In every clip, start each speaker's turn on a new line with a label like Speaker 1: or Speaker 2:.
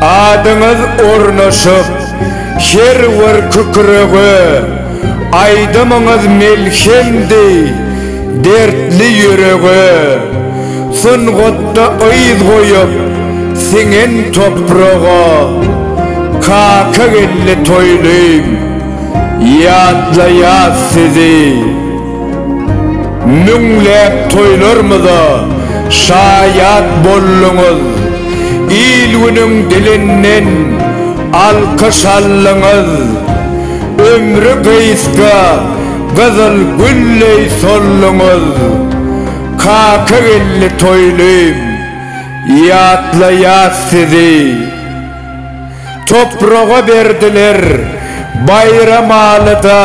Speaker 1: Adyňyz ornaşyp her bir kükrege, Aýdymyňyz melhemdi dertli ýürege. Sungatda yz goýup siňen topraga, Kakageldi toýlym ýatlaýas sizi. Müňläp toýlarymyza şaýat bolduňyz, il-günüň dilinden alkyş aldyňyz. Ömri gysga gyzyl gülleý solduňyz. Kakageldi toýlym, ýatlaýas sizi. Topraga berdiler Baýramalyda.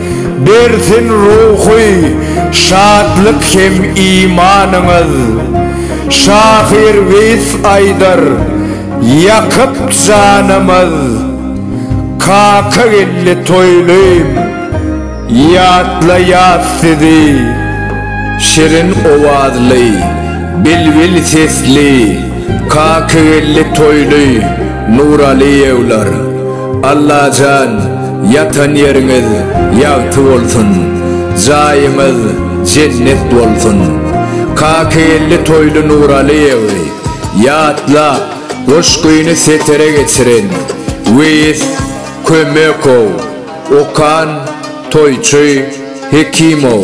Speaker 1: Bersin ruhy şatlyk hem imanyňyz. Şahyr Weýis aýdar, Ýakyp janymyz. Kaka geldi toýlaýyn, ýatlaýas sizi. Şirin owazly, bilbil sesli Kakageldi toýly Nuralyýewler. Allajan ýatan ýeriňiz ýagty bolsun jaýyňyz jennet bolsun Kakageldi Toýly Nuralyýewi ýatlap goşgyny setere geçiren Weýis Kömekow okan Toýçy Hekimow.